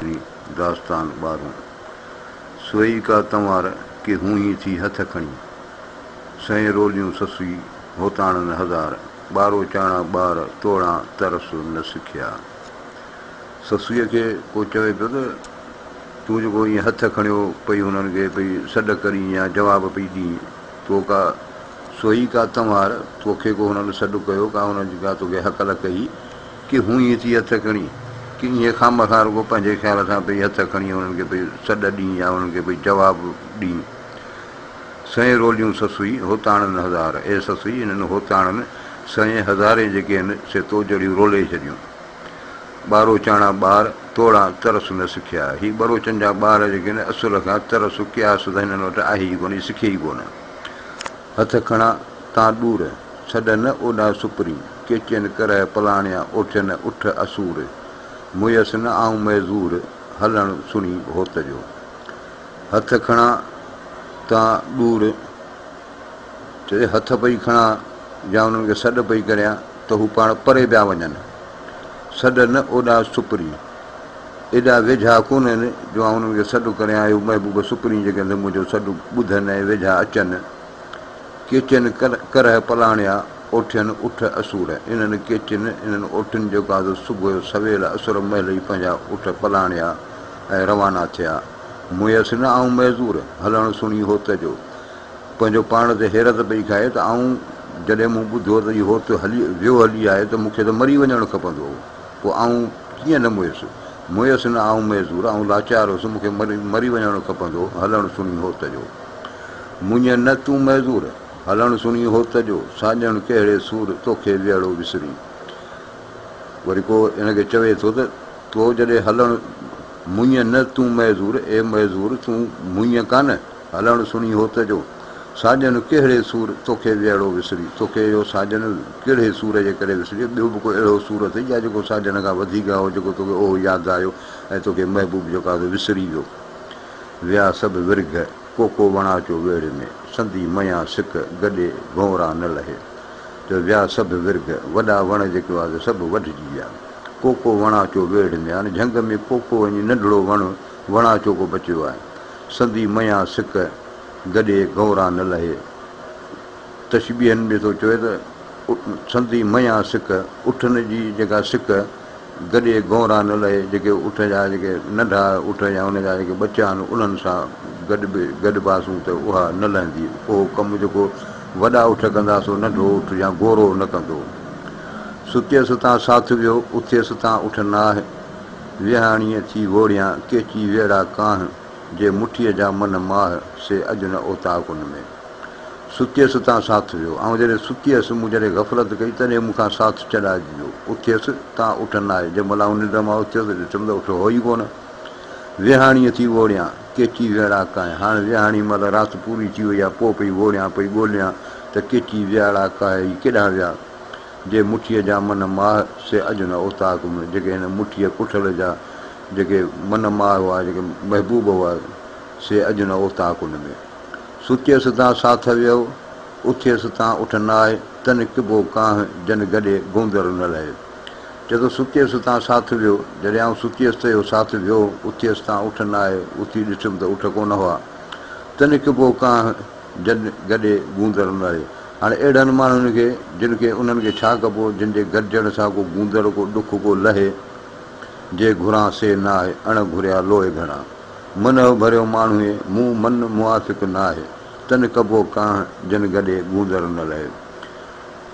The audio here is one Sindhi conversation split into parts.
جي داستان ٻارون، سوئي ڪا تنوار ڪي هونهين ٿي هٿ کڻي، سئين روليون سسئي هوتاڻن هزار، ٻارو چاڻا ٻار توڙان ترس نه سکيا. سسئيء کي ڪو چوي پيو ته، تون جيڪو ائين هٿ کڻيو پئي هنن کي پئي سڏ ڪرين يا جواب پئي ڏين، تو ڪا سوئي ڪا تنوار، توکي ڪو هنن سڏ ڪيو، ڪا هنن جي ڪا توکي هڪل ڪئي، ڪي هونء ائين ٿي هٿ کڻي، ڪي ائين خامخا رڳو پنهنجي خيال سان پئي هٿ کڻي انهن کي پئي سڏ ڏئين يا انهن کي پئي جواب ڏئين. سئين روليون سسئي هوتاڻن هزار، اي سسئي انهن هوتاڻن سئين هزارين جيڪي هن سي تو جڙيون رولي ڇڏيون. ٻاروچاڻا ٻار توڙان ترس نه سکيا، هي ٻروچن جا ٻار جيڪي آهن اصل کان ترس قياس ته هنن وٽ آهي ئي ڪونه، سکي ئي ڪونه. هٿ کڻا تان ڏور، ڇڏ نه اوڏا سپري، ڪيچين ڪرهه پلاڻيا، اوٺين اٺ اسور، مئيس نه آئون معذور، هلڻ سڻي هوت جو. هٿ کڻا تان ڏور، چي هٿ پئي کڻان يا انهن کي سڏ پئي ڪريان ته هو پاڻ پري پيا وڃن. سڏ نه اوڏا سپري، ايڏا ويجها ڪونهن جو آئون انهن جو سڏ ڪريان اهو محبوب سڪرين جيڪي اندر منهنجو سڏ ٻڌن ۽ ويجها اچن ڪيچين ڪرهه پلاڻيا اوٺين اٺ اسور انهن ڪيچين انهن اوٺين جو قاضو صبح جو سويل اسور مهل ئي پنهنجا اٺ پلاڻيا ۽ روانا ٿيا مئس نه آئون معذور هلڻ سڻي هوت جو پنهنجو پاڻ تي حيرت پئي کائي ته آئون جڏهن مون ٻڌو ته هي هوت هلي ويو هلي آهي ته مون کي ته مري وڃڻ کپندو هو. پوء آئون ڪيئن نه مئيس. مئيس نه، آئون معذور، آئون لاچار هوس، مون کي مري وڃڻ کپندو هو، هلڻ سڻي هوت جو. مڃ نه تون معذور، هلڻ سڻي هوت جو، ساڄڻ ڪهڙي سور، توکي ويهڙو وسري. وري ڪو هن کي چوي ٿو ته تو جڏهن هلڻ مڃ نه تون معذور، اي معذور تون مڃ ڪانه. هلڻ سڻي هوت جو، ساڄن ڪهڙي سور توکي ويهڙو وسري، توکي اهو ساڄن ڪهڙي سور جي ڪري وسري، ٻيو به ڪو اهڙو سور اٿئي جا جيڪو ساڄن کان وڌيڪ آهو جيڪو توکي اهو ياد آيو ۽ توکي محبوب جيڪو آهي سو وسري ويو. ويا سڀ ورگهه، ڪوڪو وڻاچو ويڙهه ۾، سندي ميان سڪ، گڏي ڀونرا نه لهي. جو ويا سڀ ورگهه، وڏا وڻ جيڪي هئا سي سڀ وڍجي ويا. ڪوڪو وڻاچو ويڙهه ۾، يعني جهنگ ۾ ڪوڪو وڃي ننڍڙو وڻ، وڻاچو ڪو بچيو آهي. سندي ميان سڪ گڏي گهوران نه لهي. تشبيهن ۾ ٿو چوي ته، سندي ميان سڪ، اٺن جي جيڪا سڪ گڏي گهوران نه لهي، جيڪي اٺ جا جيڪي ننڍا اٺ يا ان جا جيڪي ٻچا آهن، انهن سان گڏ به گڏباسون ته اها نه لهندي. اهو ڪم جيڪو وڏا اٺ ڪندا، سو ننڍو اٺ يا گهورو نه ڪندو. ستيس تان ساٿ ويو، اٿيس تان اٺ نه آهه. ويهاڻيء ٿي ووڙيان، ڪيچي ويڙها ڪانه، جي مٺيء جا من ماهه، سي اڄ نه اوطاق ان ۾. ستيء ستان ساٿ ويو. آئون جڏهن ستي هيس، مون جڏهن غفلت ڪئي، تڏهن مون کان ساٿ چڏائجي ويو. اٿيس، تان اٺ نه آئي. جنهن مهل آئون ننڊ مان اٿيس، ڏٺم ته اٺ هو ئي ڪونه. ويهاڻيء ٿي ووڙيان، ڪيچي ويڙها ڪانه. هاڻ ويهاڻي مهل رات پوري ٿي وئي ها، پوء پئي ووڙيان، پئي ڳوليان ته ڪيچي ويڙها ڪاهي ئي ڪيڏانهن ويا. جي مٺيء جا من ماه سي اڄ نه اوطاق ۾، جيڪي هن مٺيء ڪٺل جا جيڪي من ماه هئا، جيڪي محبوب هئا، سي اڄ نه اوطاق ان ۾. ستيس تان ساٿ ويهو، اٿيس تان اٺ نه آهي، تن ڪبو ڪانه، جن گڏي گوندر نه لهي. چئه ٿو ستيس تان ساٿ ويهو، جڏهن آئون ستيس ته اهو ساٿ ويهو، اٿيس تان اٺ نه آهي، اٿي ڏٺم ته اٺ ڪونه هئا، تن ڪبو ڪانه، جن گڏي گوندڙ هوندو آهي. هاڻي اهڙن ماڻهن کي، جن کي انهن کي ڇا ڪبو، جن جي گڏجڻ سان ڪو گوندڙ، ڪو ڏک، ڪو لهي، جي گهران سي نه آهي، اڻ گهريا لوئي گهڻا. منهه ڀريو ماڻهوئي، مون من موافق نه آهي، تن ڪبو ڪانه، جن گڏي گوندڙ نه لهي.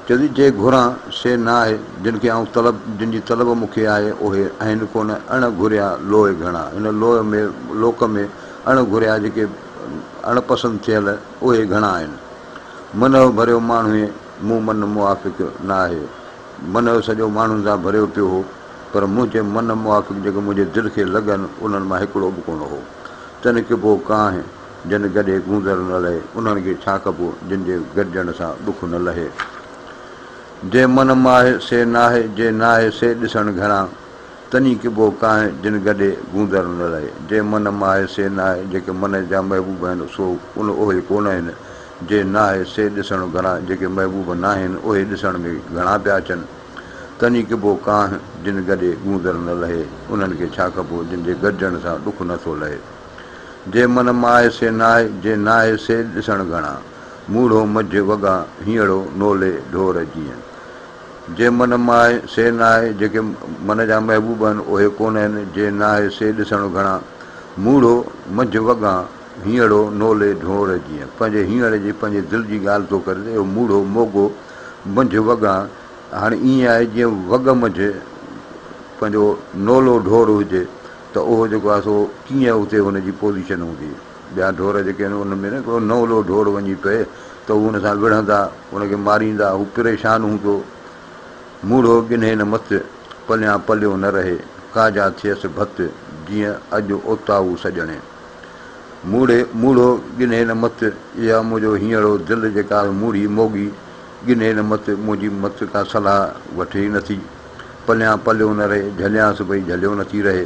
چوٿي، جي گهران سي نه آهي، جن کي آئون طلب، جن جي طلب مون کي آهي، اهي آهن ڪونه، اڻ گهريا لوئي گهڻا. هن لوئي ۾، لوڪ ۾، اڻ گهريا جيڪي اڻ پسند ٿيل اهي گهڻا آهن. منهه ڀريو ماڻهوء مون من موافق نه آهي. منهه سڄو ماڻهن سان ڀريو پيو هو، پر منهنجي من موافق جيڪي منهنجي دل کي لڳن، انهن مان هڪڙو به ڪونه هو. تن ڪبو ڪانه، جن گڏي گونزر نه لهي، انهن کي ڇا ڪبو، جن جي گڏجڻ سان ڏک نه لهي. جي من مان آهي، سي ناهي، جي ناهي، سي ڏسڻ گهڻا. تنھي ڪبو ڪانھي جن گڏي گوندر نه رھي. جي من ماھي سي ناھي، جيڪي من جا محبوب آھن سو ان اھي ڪونھن، جي ناھي سي ڏسڻ گھڻا، جيڪي محبوب ناھن اھي ڏسڻ ۾ گھڻا پيا اچن. تنھي ڪبو ڪانھي جن گڏي گوندر نه رھي، انھن کي ڇا ڪبو جن جي گڏجڻ سان ڏک نه ٿو لھي. جي من ماھي سي ناھي، جي ناھي سي ڏسڻ گھڻا. موڙھو مجھ وڳا ھينئڙو نولي ڍور جيئن. جي من مان آهي سي نه آهي، جيڪي من جا محبوب آهن اهي ڪونه آهن، جي نه آهي سي ڏسڻ گهڻا. موڙهو، منجهه وڳان، هينئڙو، نولي، ڍونئر جيئن پنهنجي هينئڙي جي پنهنجي دل جي ڳالهه ٿو ڪري ته اهو موڙهو، موڳو، منجهه وڳان، هاڻي ائين آهي جيئن وڳ منجهه پنهنجو نولو، ڍور، هجي ته اهو جيڪو آهي سو ڪيئن اتي هن جي پوزيشن هوندي. ٻيا ڍور جيڪي آهن ان ۾ نه ڪو نئلو ڍور وڃي پئي ته هو ان سان وڙهندا، ان کي ماريندا، هو پريشان هوندو. موڙهو ڳنهي نه مت، پليان پليو نه رهي، ڪاجا ٿئيس ڀت، جيئن اڄ اوتائو سڄڻي. موڙهي، موڙهو ڳنهي نه مت، اها منهنجو هينئڙو دل جيڪا آهي موڙهي، موڳي، ڳنهي نه مت، منهنجي مت ڪا صلاح وٺي ئي نٿي، پليان پليو نه رهي، جهليانس پئي جهليو نٿي رهي.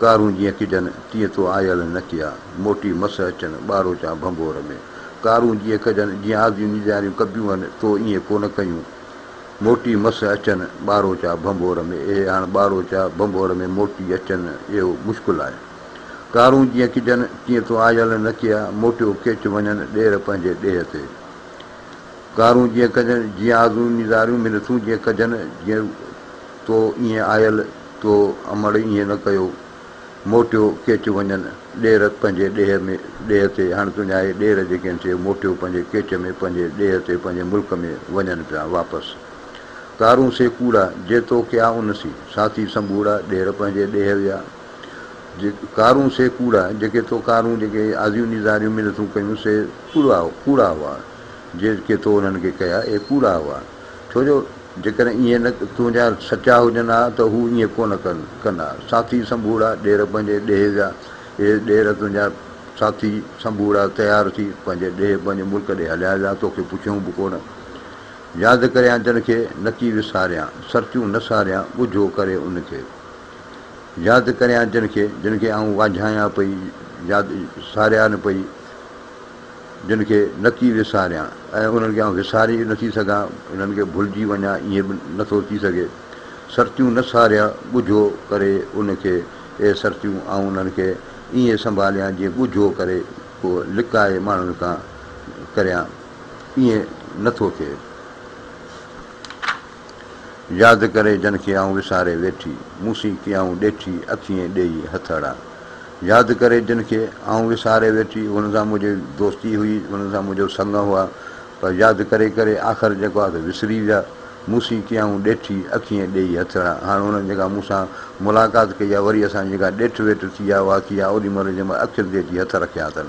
ڪارون جيئن ڪجن، تيئن تو آيل نه ڪيا، موٽي مس اچن، ٻاروچان ڀنڀور ۾. ڪارون جيئن ڪجن، جيئن آزيون نيزاريون ڪبيون هن، تو ائين ڪو نه ڪيون. موٽي مس اچن، ٻاروچا ڀنڀور ۾. اهي هاڻ ٻاروچا ڀنڀور ۾ موٽي اچن، اهو مشڪل آهي. ڪارون جيئن ڪجن، تيئن تو آيل نه ڪيا، موٽيو ڪيچ وڃن، ڏير پنهنجي ڏيهه تي. ڪارون جيئن ڪجن، جيئن آزيون نيزاريون منٿون جيئن ڪجن، جيئن. تو ائين آيل تو امڙ ائين نه ڪيو. موٽيو ڪيچ وڃن ڏير پنهنجي ڏيهه ۾ ڏيهه تي هاڻي تنهنجاهي ڏير جيڪي آهن سي موٽيو پنهنجي ڪيچ ۾ پنهنجي ڏيهه تي پنهنجي ملڪ ۾ وڃن پيا واپس ڪارون سي ڪوڙا جي تو ڪيا ان سي ساٿي سنبوڙا ڏير پنهنجي ڏيهه ويا جي ڪارون سي ڪوڙا جيڪي تو ڪارون جيڪي آزيون نيزاريون منٿون ڪيون سي ڪوڙا ڪوڙا هئا جي ڪي تو انهن کي ڪيا اهي ڪوڙا هئا. ڇو جو جيڪڏهن ائين نه تنهنجا سچا هجن ها ته هو ائين ڪونه ڪن ها. ساٿي سنبوڙا ڏير پنهنجي ڏيهه جا اهي ڏير تنهنجا ساٿي سنبوڙا تيار ٿي پنهنجي ڏيهه پنهنجي ملڪ ڏي هليا جا توکي پڇيون به ڪونه ياد ڪريان جن کي نڪي وساريان سرچون نه ساريان ڳجهو ڪري ان کي ياد ڪريان جن کي جن کي آئون واجهايان پئي ياد ساريان پئي جن کي نه ٿي وساريان ۽ انهن کي آئون وساري به نه ٿي سگهان، انهن کي ڀلجي وڃان ائين به نه ٿو ٿي سگهي. سرتيون نه ساريء ڳجهو ڪري ان کي، اي سرتيون آئون انهن کي ائين سنڀاليان جيئن ڳجهو ڪري ڪو لڪائي ماڻهن کان ڪريان، ائين نه ٿو ٿئي. ياد ڪري جن کي آئون وساري ويٺي، مون سين ڪيائون ڏيٺي، اکيين ڏيئي هٿ اڙا. ياد ڪري جن کي آئون وساري ويٺي، انهن سان منهنجي دوستي هئي، انهن سان منهنجو سڱ هئا، پر ياد ڪري ڪري آخر جيڪو آ سو وسري ويا، مون سين ڪيائون ڏيٺي، اکيين ڏيئي هٿ اڙا. هاڻ انهن جيڪا مون سان ملاقات ڪئي آ، وري اسان جي جيڪا ڏيٺ ويٺ ٿي آ، اها ٿي آ، اوڏي مهل جنهن مهل اکين تي اچي هٿ رکيا اٿن.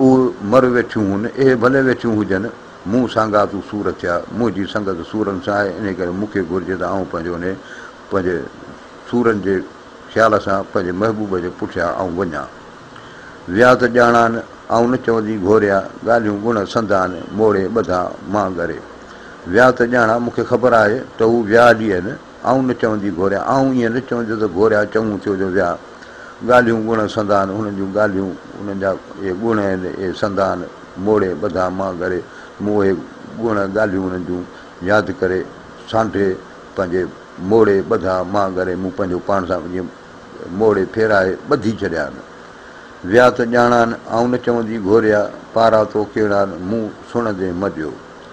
او مر ويٺيون هن، اهي ڀلي ويٺيون هجن، مون سانگا تون سور ٿيا، منهنجي سنگت سورن سان آهي، انهي ڪري مون کي گهرجي ته آئون پنهنجو انهي پنهنجي سورن جي خيال سان پنهنجي محبوب جي پٺيان آئون وڃان. ويا ته ڄاڻان، آئون نه چوندي گهوريا، ڳالهيون ڳڻ سندان، موڙي ٻڌان مان ڳري. ويا ته ڄاڻان، مون کي خبر آهي ته هو ويا هلي آهن. آئون نه چوندي گوريا، آئون ائين نه چوندي ته گوريا چڱو ٿيو جو ويا. ڳالهيون ڳڻ سندان هنن جون ڳالهيون، انهن جا اهي ڳڻ آهن، اهي سندان موڙي ٻڌا مان گهري، مون اهي ڳڻ ڳالهيون انهن جون ياد ڪري سانڍي پنهنجي موڙي ٻڌا مان گهري، مون پنهنجو پاڻ سان جيئن موڙي ڦيرائي ٻڌي ڇڏيان. ويا ته ڄاڻان، آئون نه چوندي گوريا، پارا تو ڪهڙا، مون سڻندي مڏيو.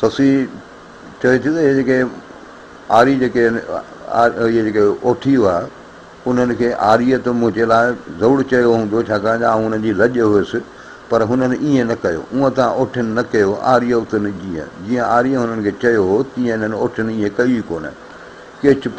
سسئي چوي ٿي ته اهي جيڪي آري جيڪي آهن اهي جيڪي اوٺي هئا انهن کي آريت منهنجي لاء ضرور چيو هوندو ڇاڪاڻ ته آئون انهن جي لڄ هيس پر هنن ائين نه ڪيو اونء ته اوٺين نه ڪيو آريوتن جيئن جيئن آري هنن کي چيو هو تيئن انهن اوٺين ائين ڪيو ئي ڪونه ڪي چپ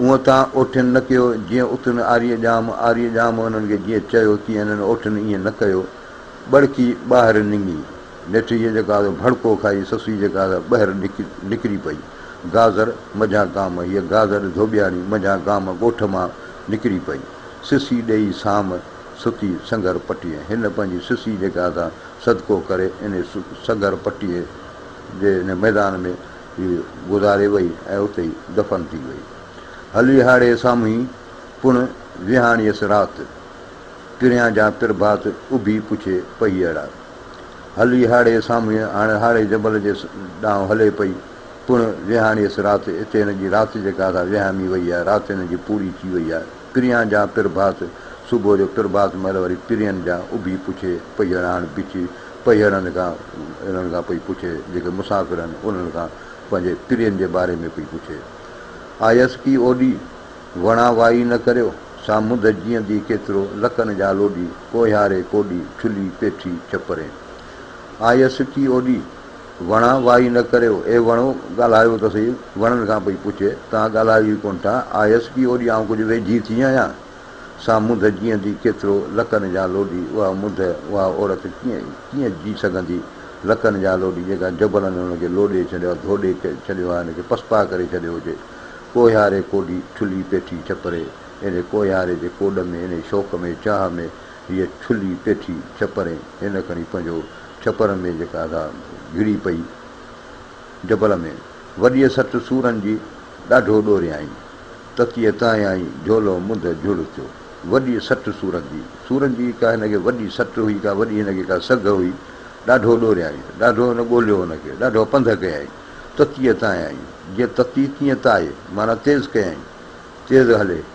هونء تان اوٺين نه ڪيو، جيئن اٿن آريء ڄام، آريء ڄام انهن کي جيئن چيو، تيئن انهن اوٺين ائين نه ڪيو. ٻڙڪي ٻاهر ننگي. نيٺ هيء جيڪا سا ڀڙڪو کائي، سسئي جيڪا سا ٻهر نڪري پئي. گاذر، مجهان گام، هيء گاذر ڌوٻياڻي، مجهان گام، ڳوٺ مان نڪري پئي. سسئي ڏيئي سام، ستي سنگهر پٽيء. هن پنهنجي سسئي جيڪا سا صدقو ڪري، انهيء سنگهر پٽيء جي انهيء ميدان ۾. هي گذاري وئي ۽ اتي ئي دفن ٿي وئي. هلي هاڙهي سامهون ئي پڻ ويهاڻيس رات. پريان جا پرڀات اڀي پڇي پئي اڙا. هلي هاڙهي سامهون ئي هاڻ هاڙهي جبل جي ڏانهن هلي پئي. پڻ ويهاڻيس رات. اتي هن جي رات جيڪا سا وهامي وئي آهي. رات هن جي پوري ٿي وئي آهي. پريان جا پرڀاس، صبح جو پرڀاس مهل وري پرين جا اڀي پڇي پهيڙاڻ بڇي پهيڙن کان اهڙن کان پئي پڇي جيڪي مسافر آهن انهن کان پنهنجي پرين جي باري ۾ پئي پڇي آيس ڪي اوڏي وڻا وائي نه ڪريو سا منڌ جيئندي ڪيترو لڪن جا لوڏي ڪوهياري ڪوڏي ڇلي پيٺي ڇپرين آيس ڪي اوڏي وڻا وائي نه ڪريو، اي وڻو ڳالهايو ته سهي، وڻن کان پئي پڇي، توهان ڳالهايو ئي ڪونه ٿا، آيس ڪي اوڏي آئون ڪجهه ويجهي ٿي آهيان؟ سا منڌ جيئندي ڪيترو لڪن جان لوڏي، اها منڌ، اها عورت ڪيئن ڪيئن جي سگهندي، لڪن جان لوڏي، جيڪا جبلن هن کي لوڏي ڇڏيو آهي، ڌوڏي ڇڏيو آهي، هن کي پسپاء ڪري ڇڏيو هجي، ڪوهياري ڪوڏي، ٺلهي پيٺي ڇپري، انهي ڪوهياري جي ڪوڏ ۾، انهي شوق ۾، چاهه ۾، هيء ڇلي پيٺي ڇپرين هن کڻي پنهنجو ڇپر ۾ جيڪا ادا گهڙي پئي جبل ۾، وڏيء سٽ سورن جي ڏاڍو ڏوريائين. تتيء تانئائين جهولو منڌ جهڙ ٿيو. وڏيء سٽ سورن جي، سورن جي ڪا هن کي وڏي سٽ هئي، ڪا وڏي هن کي ڪا سگهه هئي، ڏاڍو ڏوريائين، ڏاڍو هن ڳولهيو هن کي، ڏاڍا پنڌ ڪيائين. تتيء تانئائين، جيئن تتي تيئن تاء، معنيٰ تيز ڪيائين، تيز هلي.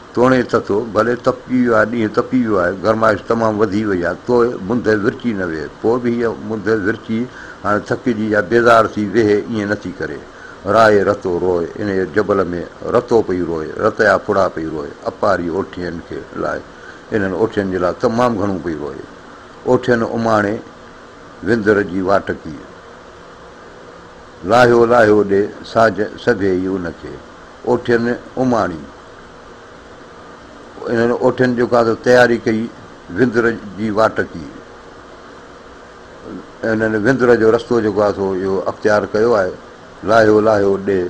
توڻي تتو، ڀلي تپجي ويو آهي، ڏينهن تپي ويو آهي، گرمائش تمام وڌي وئي آهي، توء منڌ ورچي نه ويهه، پوء به هيء منڌ ورچي هاڻي ٿڪجي يا بيزار ٿي ويهي ائين نه ٿي ڪري. راهي رتو روء، انهيء جبل ۾ رتو پئي روء، رتيا ڦڙا پئي روء، اپاري اوٺين کي لاء، انهن اوٺين جي لاء تمام گهڻو پئي روء. اوٺين اماڻي وندر جي واٽ ڪي. لاهيو لاهيو ڏي ساجهه سڀيئي ان کي. اوٺين اماڻي. انهن اوٺين جو ڪا ته تياري ڪئي، وندر جي واٽ ڪي، انهن وندر جو رستو جيڪو آهي سو اهو اختيار ڪيو آهي، لاهيو لاهيو ڏي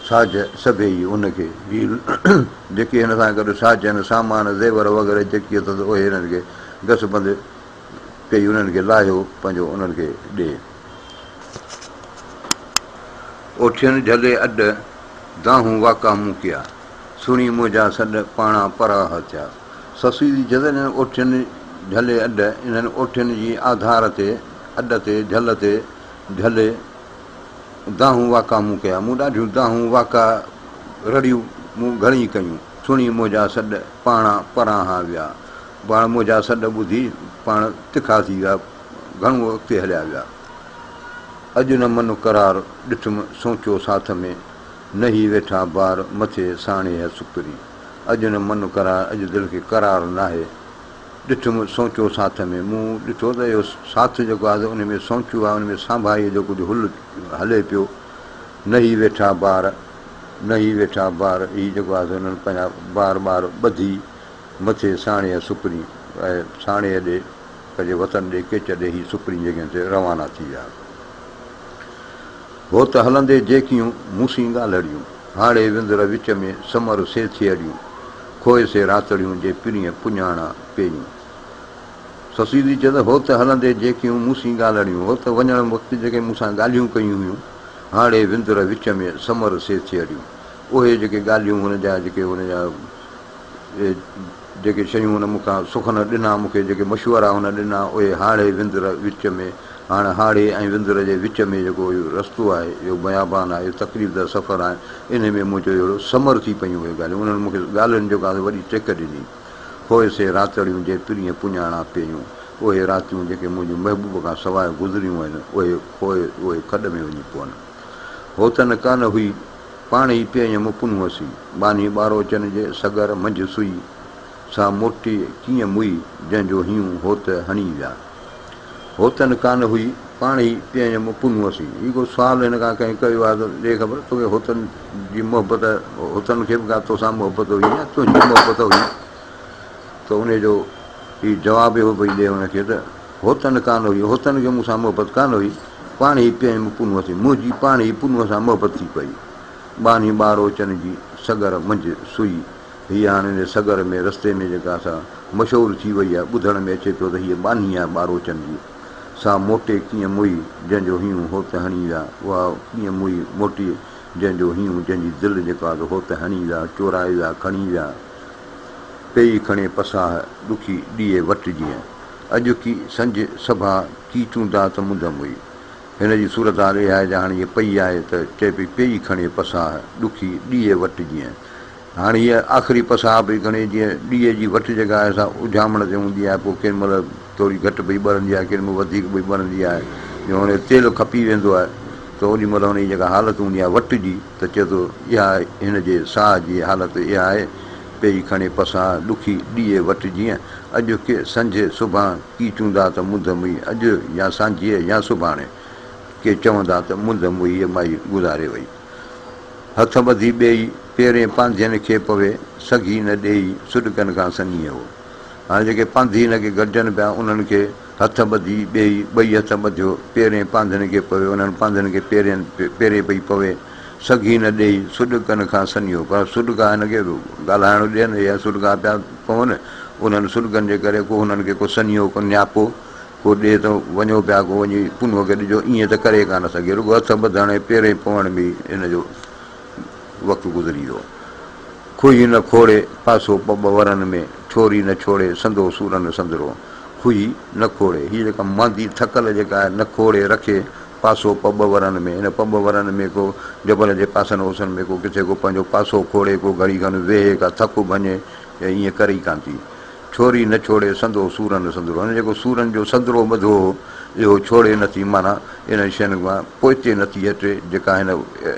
ساج سڀيئي ان کي، هي جيڪي هن سان گڏ ساجن، سامان، زيور وغيره جيڪي اٿس اهي هنن کي گس بند ڪئي، انهن کي لاهيو پنهنجو انهن کي ڏي. اوٺين جهلي اڏ، دانهون واڪا مون ڪيا. سڻي منهنجا سڏ، پاڻا پراهه ٿيا. سسئي جي جهلن اوٺين جهلي اڏ، انهن اوٺين جي آڌار تي، اڏ تي، جهل تي، جهلي، دانهون واڪا مون ڪيا. مون ڏاڍيون دانهون واڪا رڙيون، مون گهڻي ڪيون. سڻي منهنجا سڏ، پاڻا پراهه ويا. پاڻ منهنجا سڏ ٻڌي، پاڻ تکا ٿي ويا. گهڻو اڳتي هليا ويا. اڄ نه من قرار ڏٺم سوچو ساٿ ۾، نه هي ويٺا بار مٿي ساڻي هي سڪري. اڄ نه من قرار اڄ دل کي قرار ناهي ڏٺم سوچو ساٿ ۾، مون ڏٺو ته اهو ساٿ جيڪو آهي انهي ۾ سوچو آهي انهي ۾ سانڀاهيء جو ڪجهه هل هلي پيو. نه هي ويٺا بار نه هي ويٺا بار هي جيڪو آهي سو هنن پنهنجا بار ٻار ٻڌي مٿي ساڻي هي سڪري اهي ساڻي هي ڏي پنهنجي وطن ڏي ڪيچ ڏي هي سپرين جڳهين تي روانا ٿي ويا. هو ته هلندي جيڪيون مون سين ڳالهڙيون، هاڙهي وندر وچ ۾ سمر سي ٿيهڙيون، کوهي سي راتڙيون جي پرينء پڃاڻا پيئيون. سسيدي چيس، هو ته هلندي جيڪيون مون سين ڳالهڙيون، هو ته وڃڻ وقت جيڪي مون سان ڳالهيون ڪيون هيون، هاڙهي وندر وچ ۾ سمر سي ٿيهڙيون، اهي جيڪي ڳالهيون هن جا جيڪي هن جا. اهي جيڪي شيون هن مون کان سخن ڏنا، مون کي جيڪي مشورا هن ڏنا، اهي هاڙهي وندر وچ ۾، هاڻ هاڙهي ۽ وندر جي وچ ۾ جيڪو اهو رستو آهي، اهو بيابان آهي، اهو تڪليف ده سفر آهي، انهي ۾ منهنجو اهڙو ثمر ٿي پيون اهي ڳالهيون، انهن مون کي ڳالهين جيڪا سي وڏي ٽيڪ ڏني. هوء سي راتڙيون جي پرينء پڃاڻا پيون، اهي راتيون جيڪي منهنجي محبوب کان سواء گذريون آهن، اهي هوء اهي کڏ ۾ وڃي پون. هو ته نه ڪانه هئي، پاڻ ئي پيئي ۽ مڪن هئسي. ٻانهي ٻاروچن جي سڳر منجهه سئي، سا موٽي ڪيئن مئي، جنهن جو هيون هوت هڻي ويا. هو ته نه ڪانه هئي، پاڻ ئي پيئي ۽ مڪن هئسي. هي ڪو سوال هن کان ڪنهن ڪيو آهي ته ڏي خبر، توکي هوتن جي محبت، هوتن کي به ڪا توسان محبت هئي يا تنهنجي محبت هئي؟ ته انهيء جو هي جواب اهو پئي ڏئي هن کي ته. هوتن ڪانه هئي، هوتن کي مون سان محبت ڪانه هئي، پاڻ هي پيئي م پنهونء تي، منهنجي پاڻ هي پنهونء سان محبت ٿي پئي. ٻانهي ٻاروچن جي سڳر منجهه سئي، هيء هاڻ ان سڳر ۾ رستي ۾ جيڪا سا مشعول ٿي وئي آهي، ٻڌڻ ۾ اچي ٿو ته هيء ٻانهي آهي ٻاروچن جي. سا موٽي ڪيئن موئي، جنهن جو هينئون هوت هڻي ويا، اها ڪيئن موئي موٽي، جنهن جو هينئون، جنهن جي دل جيڪا سا هوت هڻي ويا، چورائي ويا، کڻي ويا. پيئي کڻي پساهه، ڏکي ڏيئي وٽ جيئن. اڄوڪي سنج سڀا ڪي چوندا ته منڌم هئي. هن جي صورتحال اهائي جا هاڻي هيء پئي آهي ته چئي پئي پيئي کڻي پساهه ڏکي ڏيئي وٽ جيئن هاڻي هيء آخري پساهه پئي کڻي جيئن ڏيئي جي وٽ جيڪا آهي سا اجهامڻ تي هوندي آهي پوء ڪين مهل ٿوري گهٽ پئي ٻرندي آهي ڪين مهل وڌيڪ پئي ٻرندي آهي جو هاڻي تيل کپي ويندو آهي ته اوڏي مهل هن جي جيڪا حالت هوندي آهي وٽ جي ته چئي ٿو، اها هن جي ساهه جي حالت اها آهي، پئي کڻي پساهه، ڏکي ڏيئي وٽ جيئن، اڄڪي سنجهي سڀان، ڪي چوندا ته منڌ مئي اڄ يا سانجهيء يا سڀاڻي، ڪي چوندا ته منڌ مئي مائي گذاري وئي. هٿ ٻڌي ٻيئي، پيرين پانڌين کي پوي، سگهي نه ڏيئي، سڏڪن کان سنيهو. هاڻي جيڪي پانڌي هن کي گڏجن پيا، انهن کي. هٿ ٻڌي ٻيئي ٻئي هٿ ٻڌيو، پيرين پانڌڻي کي پوي انهن پانڌڻي کي پيرين پيرين پئي پوي، سگهي نه ڏيئي، سڏڪن کان سنيو، پر سڏڪا هن کي ڳالهائڻ ڏين يا سڏڪا پيا پون، انهن سڏڪن جي ڪري ڪو هنن کي ڪو سنيهو ڪو نياپو ڪو ڏي ته وڃو پيا ڪو وڃي پنهونء کي ڏجو، ائين ته ڪري ڪانه سگهي، رڳو هٿ ٻڌڻ ۽ پيرين پوڻ ۾ ئي هن جو وقت گذري ويو. کوهي نه کوڙي پاسو ٻه ٻه ورن ۾، ڇوري نه ڇوڙي سندو سورن سندرو. کوهي نه کوڙي، هيء جيڪا ماندي ٿڪل جيڪا آهي، نه کوڙي رکي پاسو ٻه ٻه ورن ۾، ان ٻه ٻه ورن ۾ ڪو جبل جي پاسن اوسن ۾ ڪو ڪٿي ڪو پنهنجو پاسو کوڙي، ڪو گهڙي کن ويهي، ڪا ٿڪ ڀڃي، ايئن ڪري ئي ڪانه ٿي. ڇوري نه ڇوڙي سندو سورن سندرو يعني جيڪو سورن جو سندرو ٻڌو هو اهو ڇوڙي نه ٿي معنيٰ انهن شين کان پوئتي نه ٿي هٽي جيڪا هن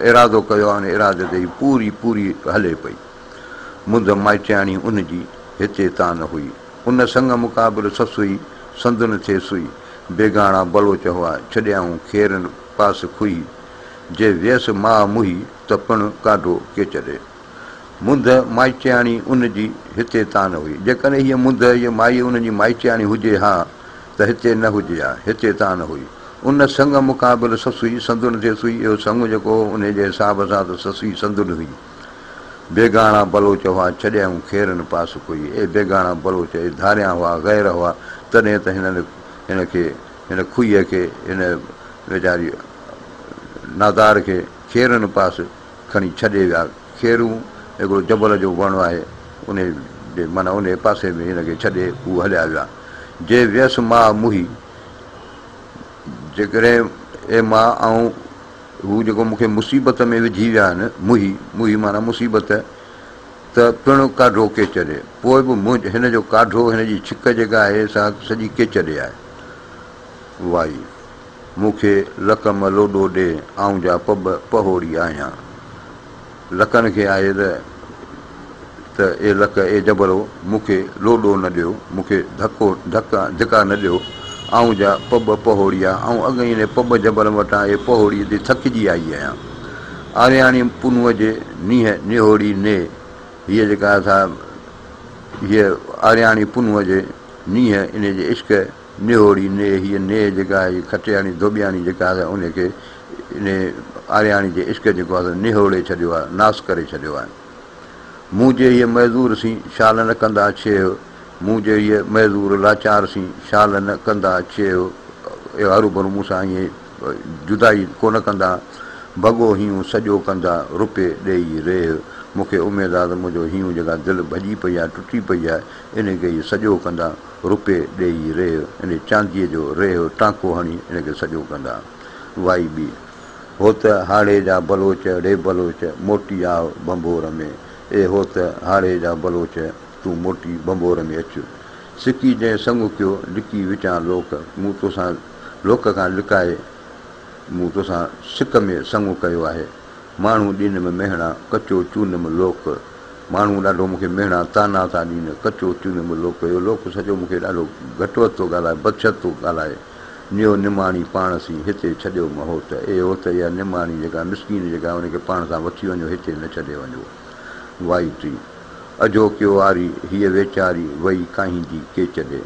ارادو ڪيو آهي ان ارادي تي هي پوري پوري هلي پئي منڌ مائٽياڻي ان جي هتي تان نه هئي ان سڱ مقابل سس هئي سندن ٿي سئي بيگاڻا بلوچ هئا ڇڏيائون کيرن پاس کهي جي ويس ماء موهي ته پڻ ڪاڍو ڪيچ ڏي. منڌ مائچياڻي ان جي هتي تان هئي. جيڪڏهن هيء منڌ يا مائي ان جي مائچياڻي هجي ها ته هتي نه هجي ها، هتي تان هئي. ان سڱ مقابل سسئي سندن ٿيس هئي. اهو سڱ جيڪو هو، انهيء جي حساب سان ته سسئي سندن هئي. بيگاڻا بلوچ هئا، ڇڏيائون کيرن پاس ڪوئي. اهي بيگاڻا بلوچ اهي ڌاريان هئا، غير هئا، تڏهن ته هنن هن کي، هن کوهيء کي، هن ويچاري نادار کي کيرن پاس کڻي ڇڏي ويا. کيرون هڪڙو جبل جو وڻ آهي، انهي جي معنيٰ انهي پاسي ۾ هن کي ڇڏي هو هليا ويا. جي ويس ماء موهي، جيڪڏهن اي ماء آئون هو جيڪو مون کي مصيبت ۾ وجهي ويا آهن، موهي، موهي معنيٰ مصيبت، ته پڻ ڪاڍو ڪيچڏ. پوء به منهنج هن جو ڪاڍو، هن جي ڇڪ جيڪا آهي سا سڄي ڪيچڏي آهي. وائي. مون کي لڪ م لوڏو ڏي، آئون جا پٻ پهوڙي آهيان. لڪن کي آهي ته ته اي لڪ، اي جبرو، مون کي لوڏو نه ڏيو، مون کي ڌڪو، ڌڪ، ڌڪا نه ڏيو، آئون جا پٻ پهوڙي آ، آئون اڳ ئي انهي پٻ جبر وٽان اي پهوڙي تي ٿڪجي آئي آهيان. آرياڻي پنهونء جي نيهه نهوڙي ني، هيء جيڪا اٿا هيء آرياڻي پنهونء جي نيهه انهي جي عشق نهوڙي نيهه، هيء نيهه جيڪا آهي جي کٽياڻي ڌوٻياڻي جيڪا آهي سا انهي کي انهي آرياڻي جي عشق جيڪو آهي سو نهوڙي ڇڏيو آهي، ناس ڪري ڇڏيو آهي. مون جي هيء معذور سين شال نه ڪندا ڇيهه، مون جي هيء معذور لاچار سين شال نه ڪندا ڇيهه، اهي هروڀرو مون سان ائين جدائي ڪو نه ڪندا، ڀڳو هينئون سڄو ڪندا، رپي ڏيئي ريهه، مون کي اميد آهي ته منهنجو هينئون جيڪا دل ڀڄي پئي آهي، ٽٽي پئي آهي، انهي کي اهي سڄو ڪندا. روپي ڏيئي ريهه يعني چانديء جو ريهه ٽانڪو هڻي ان کي سڄو ڪندا. وائي ٻي. هو ته هاڙهي جا بلوچ ڙي بلوچ موٽي آء ڀنڀور ۾. اي هو ته هاڙهي جا بلوچ تون موٽي ڀنڀور ۾ اچ. سڪي جنهن سڱ ڪيو لڪي وچان لوڪ مون توسان لوڪ کان لڪائي مون توسان سڪ ۾ سڱ ڪيو آهي. ماڻهو ڏينم مهڻا، ڪچو چونم لوڪ. ماڻهو ڏاڍو مون کي مهڻا، طعنا، ٿا ڏين، ڪچو چونم لوڪ. اهو لوڪ سڄو مون کي ڏاڍو گهٽ وڌ ٿو ڳالهائي، بدشد ٿو ڳالهائي. نيو نماڻي پاڻ سين هتي ڇڏيو م هوت. اي هوت، اها نماڻي جيڪا مسڪين جيڪا آهي، ان کي پاڻ سان وٺي وڃو، هتي نه ڇڏي وڃو. وائي ٽي. اجهو ڪيو آري، هيء ويچاري وئي ڪاهيندي ڪيچ ڏي.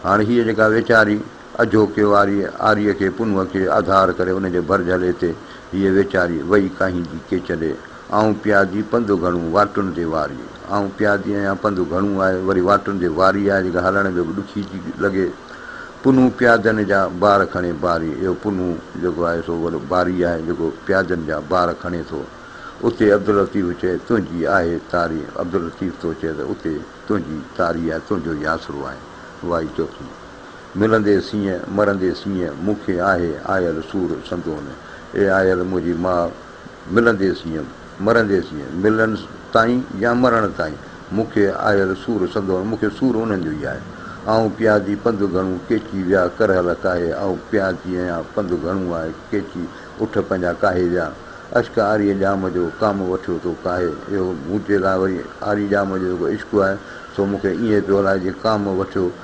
هاڻ هيء جيڪا ويچاري. اجهوڪي واريء آريء کي پنهونء کي آڌار ڪري ان جي ڀر جهلي تي هيء ويچاري وئي ڪاهيندي ڪي چڏي، آئون پيادي پنڌ گهڻو واٽن تي واري، آئون پيادي آهيان پنڌ گهڻو آهي، وري واٽن تي واري آهي جيڪا هلڻ ۾ به ڏکي ٿي لڳي. پنهون پيادن جا بار کڻي باري اهو پنهون جيڪو آهي سو وڏو باري آهي جيڪو پيادن جا بار کڻي ٿو. اتي عبداللطيف چئي تنهنجي آهي تاري عبداللطيف ٿو چئي ته اتي تنهنجي تاري آهي تنهنجو ئي آسرو آهي. وائي چوٿين. ملندي سينهن مرندي سينهن، مون کي آهي آيل سور سندون. اي آيل منهنجي ماء، ملندي سينهن مرندي سينهن، ملڻ تائين يا مرڻ تائين، مون کي آيل سور سندون، مون کي سور انهن جو ئي آهي. آئون پيا ٿي پنڌ گهڻو، ڪيچي ويا ڪرهل ڪاهي، آئون پيا ٿي اهيان پنڌ گهڻو آهي، ڪيچي اٺ پنهنجا ڪاهي ويا. اشڪ آريء ڄام جو، ڪام وٺيو تو ڪاهي. اهو مون چي لاء وري آري ڄام جو جيڪو عشق آهي، سو مون کي ائين پيو هلائي جيئن ڪام وٺيو.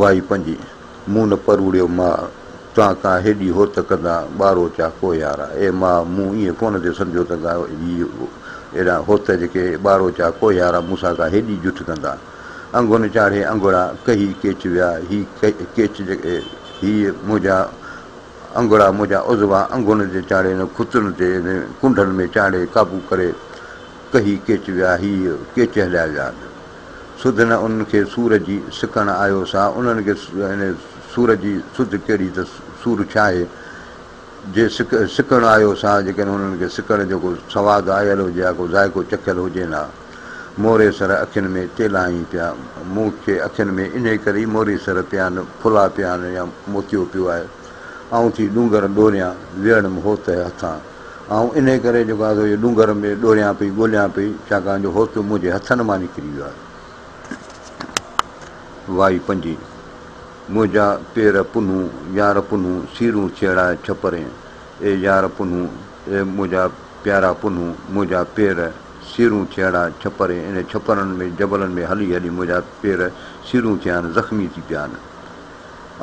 وائي پنهنجي مون نه پروڙيو ماء، تان ڪا هيڏي هوت ڪندا ٻارو چا ڪو يارا اي ماء، مون ائين ڪونه ٿي سمجهيو ته ڪا هي ايڏا هوت جيڪي ٻارو چا ڪو يارا مون سان ڪا هيڏي جٺ ڪندا. انگن چاڙهي انگڙا ڪهي ڪيچ ويا هي ڪيچ جيڪي هي منهنجا انگڙا منهنجا عضوا انگن تي چاڙهي نه کتن تي نه ڪنڊن ۾ چاڙهي قابو ڪري ڪهي ڪيچ ويا هي ڪيچ هليا ويا. سڌ نه انهن کي سور جي سڪڻ آيو سا انهن کي يعني سور جي سڌ ڪهڙي ته سور ڇاهي جي سڪ سڪڻ آيو سا جيڪڏهن انهن کي سڪڻ جو ڪو سواد آيل هجي ها ڪو ذائقو چکيل هجين ها موري سر اکين ۾ تيلائين پيا مون کي اکين ۾ انهي ڪري ئي موري سر پيا آهن ڦلا پيا آهن يا موتيو پيو آهي آئون ٿي ڏونگر ڏوريان ويڙم هوت هٿان. آئون انهيء ڪري جيڪو آزو اهي ڏونگر ۾ ڏوريان پئي، ڳوليان پئي، ڇاڪاڻ جو هوسيو منهنجي هٿن مان نڪري ويو آهي. وائي پنجي، منهنجا پير پنهون، يار پنهون، سيرون سيڙاء ڇپرين، اي يار پنهون، اي منهنجا پيارا پنهون، منهنجا پير، سيرون سيڙاء ڇپرين، انهن ڇپرن ۾، جبلن ۾ هلي هلي منهنجا پير سيرون ٿيا آهن، زخمي ٿي پيا آهن.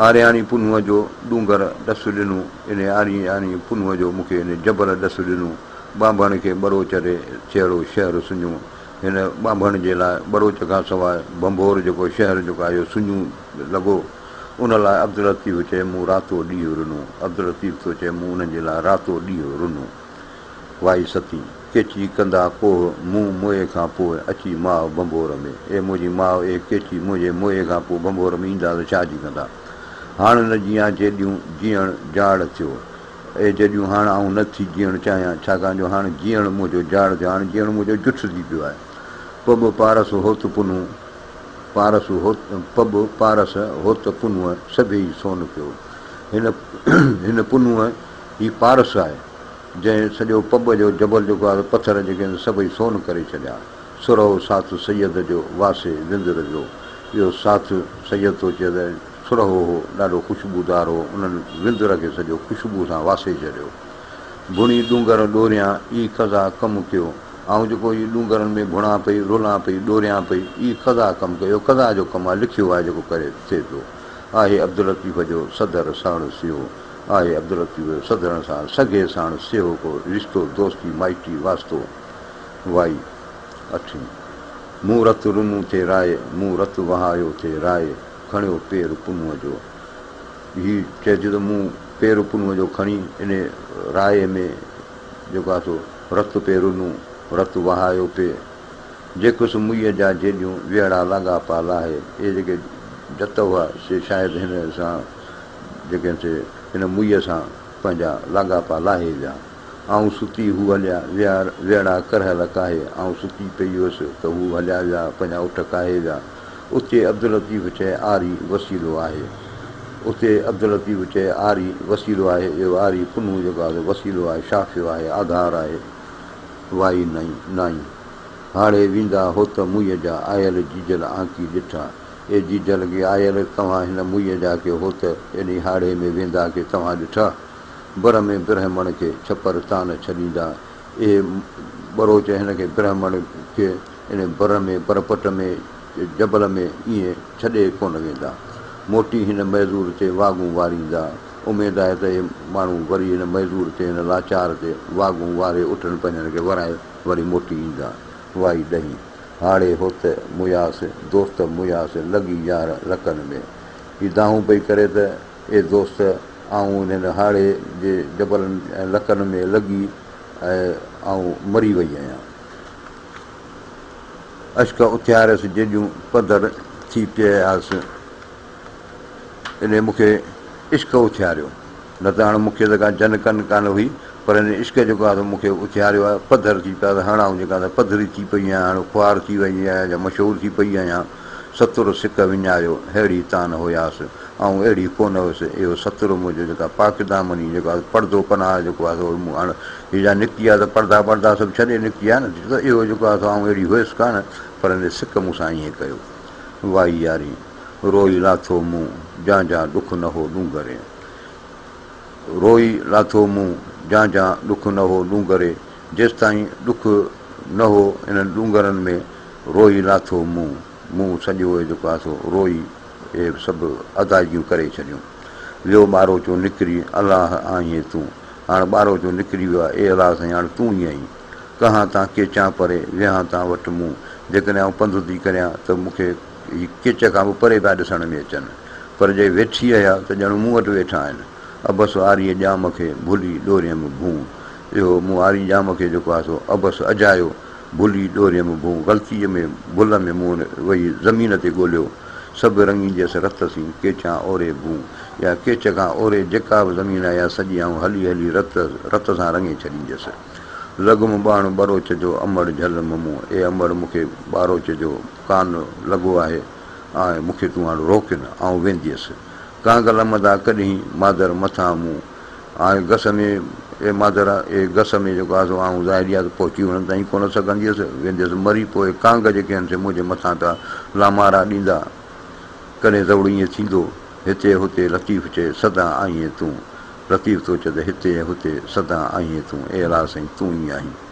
آرياڻي پنهونء جو ڏونگر ڏس ڏنو، انهيء آرياڻي پنهونء جو مون کي انهيء جبل ڏس ڏنو. ٻانڀڻ کي ٻروچ ري چهرو شهر سڃو. هن ٻانڀڻ جي لاء ٻروچ کان سواء ڀنڀور جيڪو شهر جيڪو آيو سڃو لڳو. ان لاء عبداللطيف چئي مون راتو ڏينهن رنو. عبداللطيف ٿو چئي مون انهن جي لاء راتو ڏينهن رنو. وائي ستي، ڪيچي ڪندا ڪوهه مون موئي کان پوء اچي ماء ڀنڀور ۾، اي منهنجي ماء اي ڪيچي منهنجي موئي کان پوء ڀنڀور ۾ ايندا ته ڇا جي ڪندا؟ هاڻ نه جيان جيڏيون جيئڻ جاڙ ٿيو، اي جيڏيون هاڻ آئون نه ٿي جيئڻ چاهيان، ڇاڪاڻ جو هاڻ جيئڻ منهنجو جاڙ ٿيو، هاڻ جيئڻ منهنجو جٺ ٿي پيو آهي. پب پارس هوت پنهون پارس هوت پب پارس هوت پنهون سڀيئي سون پيو، هن هن پنهون. هي پارس آهي، جنهن سڄو پٻ جو جبل جيڪو آهي سو پٿر جيڪي آهن سي سڀئي سون ڪري ڇڏيا. سرهو ساٿ سيد جو واسي وندر جو اهو ساٿ سيد ٿو چئي ته سرهو هو ڏاڍو خوشبودار هو انهن وندر کي سڄو خوشبوء سان واسي ڇڏيو. ڀڻي ڏونگر ڏوريان اي قضا ڪم ڪيو آئون جيڪو هي ڏونگرن ۾ ڀڻان پئي رولان پئي ڏوريان پئي اي قضا ڪم ڪيو اهو قضا جو ڪم آهي لکيو آهي جيڪو ڪري ٿئي ٿو آهي عبداللطيف جو صدر سهڻ سيو آهي عبداللطيف جو سڌرڻ سان سگهي ساڻس سيهو ڪو رشتو دوستي مائٽي واسطو وائي اٺين مون رت رنون ٿي راء مون رت وهايو ٿي راء کڻيو پير پنهونء جو هي چئي ٿي ته مون پير پنهونء جو کڻي انهي راء ۾ جيڪو آهي سو رت پي رنون رت وهايو پي جيڪس مئي جا جيڏيون ويهڙا لاڳاپا لاهي اهي جيڪي جت هئا سي شايد هن سان جيڪڏهن سي هن موئيء سان پنهنجا لاڳاپا لاهي ويا. آئون ستي، هو هليا ويا، ويڙها ڪرهل ڪاهي، آئون ستي پئي هيس ته هو هليا ويا، پنهنجا اٺ ڪاهي ويا. اتي عبداللطيف چئي آري وسيلو آهي. اتي عبداللطيف چئي آري وسيلو آهي. اهو آري پنهون جيڪو آهي سو وسيلو آهي، شافيو آهي، آڌار آهي. وائي نائين. هاڙهي ويندا هوت موئيء جا آيل جيجل آنڪي ڏٺا. اي جيجا لڳي آيل، توهان هن موئيء جا ڪي هوت، ايڏي هاڙهي ۾ ويندا ڪي توهان ڏٺا؟ بر ۾ برهمڻ کي ڇپر تان ڇڏيندا، اهي ٻروچ هن کي برهمڻ کي ان بر ۾ برپٽ ۾ جبل ۾ ائين ڇڏي ڪونه ويندا. موٽي هن معذور تي واڳون واريندا. اميد آهي ته اهي ماڻهو وري هن معذور تي هن لاچار تي واڳون واري اٺن پنجن کي ورائي وري موٽي ايندا. وائي ڏهين. هاڙهي هوت مياس، دوست مياس، لڳي يار لڪن ۾. هي دانهون پئي ڪري ته، اي دوست! آئون انهن هاڙهي جي جبلن ۽ لڪن ۾ لڳي ۽ آئون مري وئي آهيان. اشڪ اٿياريس جيڏيون پڌر ٿي پيئي آس. انهي مون کي عشق اٿياريو. نه ته هاڻ مون کي ته ڪا جن ڪن ڪانه هئي، پر هن عشق جيڪو آهي سو مون کي اٿياريو آهي، پڌر ٿي پيا ته هاڻ آئون جيڪا سا پڌري ٿي پئي آهيان، هاڻ خوار ٿي ويئي آهيان جا مشهور ٿي پئي آهيان. ستر سڪ وڃايو، ههڙي تان هياس، آئون اهڙي ڪونه هيس، اهو ستر منهنجو جيڪا پاڪ دامني جيڪو آهي پڙدو پناهه جيڪو آهي سو مون هاڻ هي جا نڪتي آهي سو پڙدا ٻڙدا سڀ ڇڏي نڪتي آهي نه ڇو ته اهو جيڪو آهي سو آئون اهڙي هيس ڪانه، پر هن سڪ مون سان ائين ڪيو. وائي ياري! روئي لاٿو مون، جان جان ڏک نه هو ڏونگر. روئي لاٿو مون جان جان ڏک نه هو ڏونگري جيستائين ڏک نه هو انهن ڏونگرن ۾ روئي لاٿو مون مون سڄو اهي جيڪو آسو روئي اهي به سڀ ادائگيون ڪري ڇڏيون ويو ٻاروچو نڪري الله آهين تون هاڻ ٻاروچو نڪري ويو آهي اي الله سائين هاڻ تون ئي آهين ڪهان تان ڪيچان پري ويهان تان وٽ مون جيڪڏهن آئون پنڌ ٿي ڪريان ته مون کي اهي ڪچ کان به پري پيا ڏسڻ ۾ اچن، پر جي ويٺي رهيا ته ڄڻ مون وٽ ويٺا آهن. عبس آريء ڄام کي ڀلي ڏوريم ڀون. اهو مون آري ڄام کي جيڪو آسو عبس اجهايو، ڀلي ڏوريم ڀون غلطيء ۾ ڀل ۾ مون وهي زمين تي ڳوليو. سڀ رڱينديس رت سين ڪيچان اوري ڀون. اها ڪيچ کان اوري جيڪا به زمين آهي، اها سڄي آئون هلي هلي رت رت سان رڱي ڇڏينديس. لڳم ٻاڻ ٻروچ جو امڙ جهل ممون، اي امڙ مون کي ٻاروچ جو. ڪان لڳو آهي آء مون کي تون هاڻ روڪ نه آئون وينديس ڪانگل مدا ڪڏهين مادر مٿان مون آء گس ۾ اي مادر اي گس ۾ جيڪو آسو آئون ظاهريا ته پهچي هنن تائين ڪونه سگهنديس وينديس مري پوء ڪانگ جيڪي هن سي منهنجي مٿان ڪا لامارا ڏيندا ڪڏهين زئوڙ ائين ٿيندو هتي هتي لطيف چئي سدا آئين تون لطيف ٿو چئي ته هتي ۽ هتي سدا آئين تون اي الهه سائين تون ئي آهين.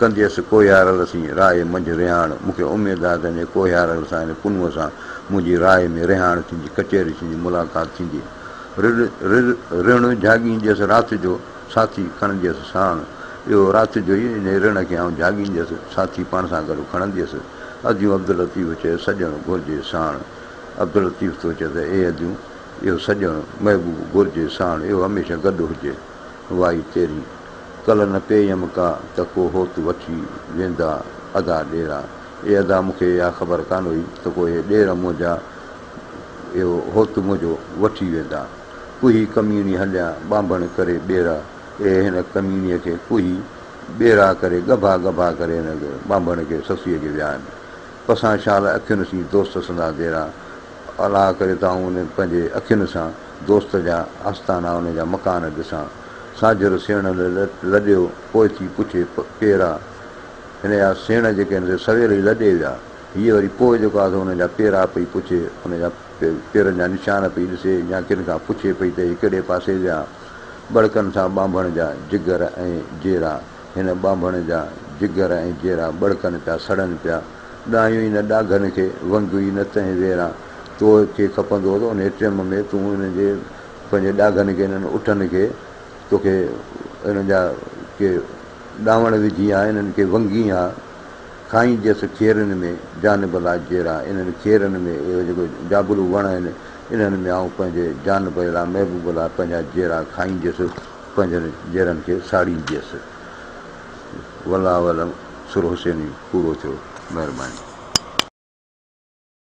ڪنديس ڪوهيارل سين راء منجهه رهاڻ، مون کي اميد آهي ته انهيء ڪوهيارل سان يعني پنهونء سان منهنجي راء ۾ رهاڻ ٿيندي، ڪچهري ٿيندي، ملاقات ٿيندي. رڙ رڙ جهاڳينديس رات جو ساٿي کڻنديس ساڻ، اهو رات جو ئي انهيء رڙ کي آئون جهاڳينديس ساٿي پاڻ سان گڏ کڻنديس. اديون عبداللطيف چيس سڄڻ گهرجي ساڻ. عبداللطيف ٿو چئي ته اي اديون اهو سڄڻ، محبوب، گهرجي ساڻ، اهو هميشه گڏ هجي. وائي تيري، ڪل نه پيئم ڪا، ته ڪو هوت وٺي ويندا ادا ڏيرا. اي ادا مون کي اها خبر ڪانه هئي ته ڪو اهي ڏير منهنجا اهو هوت منهنجو وٺي ويندا. ڪوهي ڪميڻي هليان ٻانڀڻ ڪري ٻيرا. اي هن ڪميڻيء کي ڪوهي ٻيرا ڪري ڳڀا ڳڀا ڪري هن ٻانڀڻ کي سسئي جي ويا آهن. پسان شال اکين سين دوست سندان ديرا. الاهه ڪري ته آئون ان پنهنجي اکين سان دوست جا آستانا ان جا مڪان ڏسان. ساجھر سيڻ لڏيو، پوء ٿي پڇي پيرا، هن جا سيڻ جيڪي آهن سي سويل ئي لڏي ويا. هيء وري پوء جيڪو آهي سو ان جا پيرا پئي پڇي، ان جا پيرن جا نشان پئي ڏسي يا ڪن کان پڇي پئي ته هي ڪهڙي پاسي ويا. ٻڙڪن سان ٻانڀڻ جا جگر ۽ جيرا، هن ٻانڀڻ جا جگر ۽ جيرا ٻڙڪن پيا سڙن پيا. ڏايون ئي نه ڏاگهن کي، ونگيون ئي نه تنهن ويران. تو کي کپندو ته انهيء ٽيم ۾ تون انهن جي پنهنجي ڏاگهن کي، انهن اٺن کي، تو کي انهن جا ڪي ڏانوڻ وجهين ها، انهن کي ونگهين ها، کائين جيس کيرن ۾، جان بلا جيرا، انهن کيرن ۾، اهي جيڪي جابلو وڻ آهن، انهن ۾ آئون پنهنجي جان به لا، محبوب لا، پنهنجا جيرا کائين جيس، پنهنجن جيرن کي ساڙين جيس. والله اعلم سر حسيني پورو ٿيو. مهرباني.